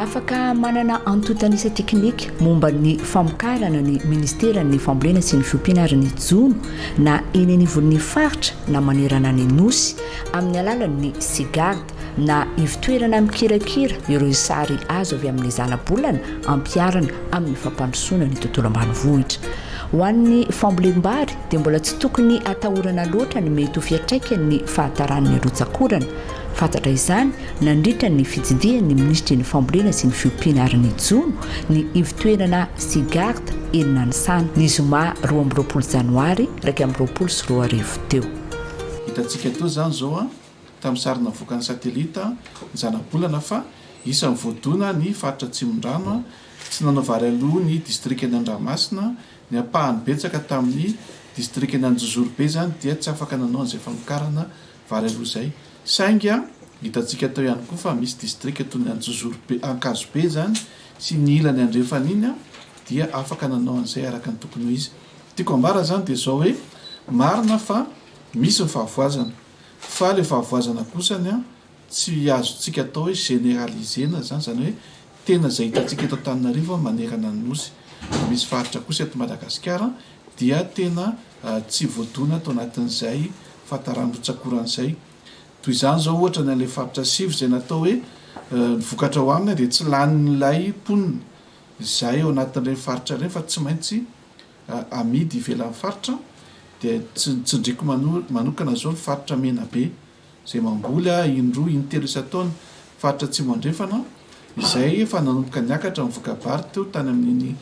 Afaka manana antontanisa teknika momba ny famokarana ny Ministeran'ny Fambolena sy ny Fiompiana ary ny Jono na eny anivon'ny faritra na manerana ny Nosy amin'ny alalan'ny Cegard. na ivotoerana mikirakira ireo sary azo avy amin'ny zanabolana ampiharina amin'ny fampandrosoana ny tontolo ambanivohitra. Ho an'ny fambolem-bary dia mbola tsy tokony atahorana loatra ny mety ho fiatraikan'ny fahataran'ny rotsak'orana. Fantatra izany nandritra ny fitsidihan'ny minisitry ny fambolena sy ny fiompiana ary ny jono ny ivotoerana Sigart eny Nanisana ny zoma roa amby roapolo janoary iraika amby roapolo sy roa arivo teo. Hitantsika toa izany izao tamin'ny sary navoakan'ny satelita ny zanabolana fa isan'ny voadona ny faritra Atsimondrano, tsy nanao vary aloha ny distrikan'i Andramasina, ny ampahany betsaka tamin'ny distrikan'i Anjozorobe izany dia tsy afaka nanao an'izay famokarana vary aloha izay, saingy hitantsika teo ihany koa fa misy distrika toy ny Anjozorobe, Ankazobe izany sy ny ilany andrefana iny dia afaka nanao an'izay araka ny tokony ho izy. Tiako ambara izany dia izao hoe, marina fa misy ny fahavoazana, Fa le fahavoazana kosa ny an, tsy azontsika atao hoe generaliser-na zany, zany hoe tena zay hitantsika eto Antananarivo an manerana ny Nosy, misy faritra kosa eto Madagasikara an dia tena tsy voadona tao anatin'izay fahatarany rotsakorany zay. Toy izany zao ohatra ny an'ilay faritra sivy zay natao hoe ny vokatra ho aminy dia tsy lanin'ilay mponina izay ao anatin'ireny faritra ireny fa tsy maintsy amidy ivelan'ny faritra dia tsy ny tsindriako manokana izao ny faritra Menabe izay mamboly in-droa in-telo isan-taona, faritra Atsimo Andrefana izay efa nanomboka niakatra ny voka-bary teo tany amin'iny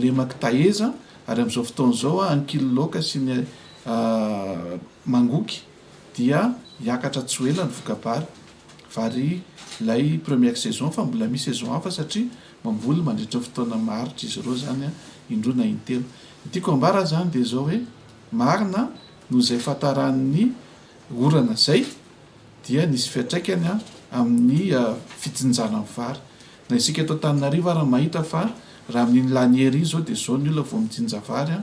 lemak'i Taheza ary amin'izao fotoana izao Ankililaoka sy ny Mangoky dia hiakatra tsy ho ela ny voka-bary, vary ilay première saison fa mbola misy saison hafa satria. Mamboly mandritra fotoana maharitra izy ireo izany, indroa na intelo. Ny tiako ambara izany dia izao hoe, marina, noho izay fahataran'ny orana izay, dia nisy fiantraikany amin'ny fijinjana ny vary. Na isika eto Antananarivo ary mahita fa raha amin'iny lany hery iny izao dia izao ny olona vao mijinja vary,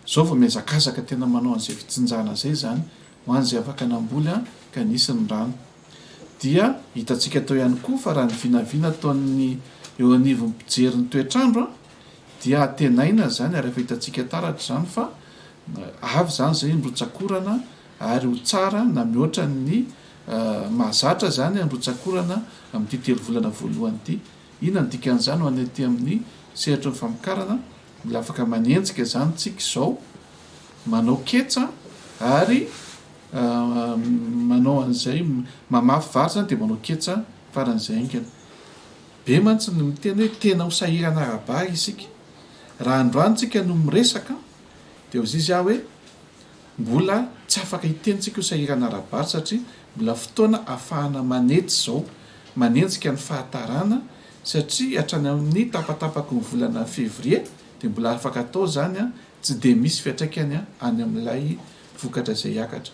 izao vao mihazakazaka tena manao an'izay fijinjana izay izany ho an'izay afaka namboly ka nisy ny rano. Dia hitantsika teo ihany koa fa raha ny vinavina ataon'ny eo anivon'ny mpijery ny toetr'andro dia antenaina izany ary efa hitantsika taratra izany fa avy izany izay ny rotsakorana ary ho tsara na mihoatra ny mahazatra izany ny rotsakorana amin'ity telo volana voalohany ity. Inona ny dikan'izany ho an'ny aty amin'ny sehatry ny famokarana? Dia afaka manenjika izany tsika izao, manao ketsa ary manao an'izay, mamafy vary izany dia manao ketsa faran'izay haingana. Be mantsy ny miteny hoe tena ho sahirana ara-bary isika. Raha androany tsika no miresaka dia hoy izy aho hoe mbola tsy afaka hiteny tsika ho sahirana ara-bary satria mbola fotoana afahana manetsy izao, manenjika ny fahatarana satria hatrany amin'ny tapatapaky ny volana fevrier dia mbola afaka atao izany, tsy dia misy fiantraikany any amin'ilay vokatra izay hiakatra.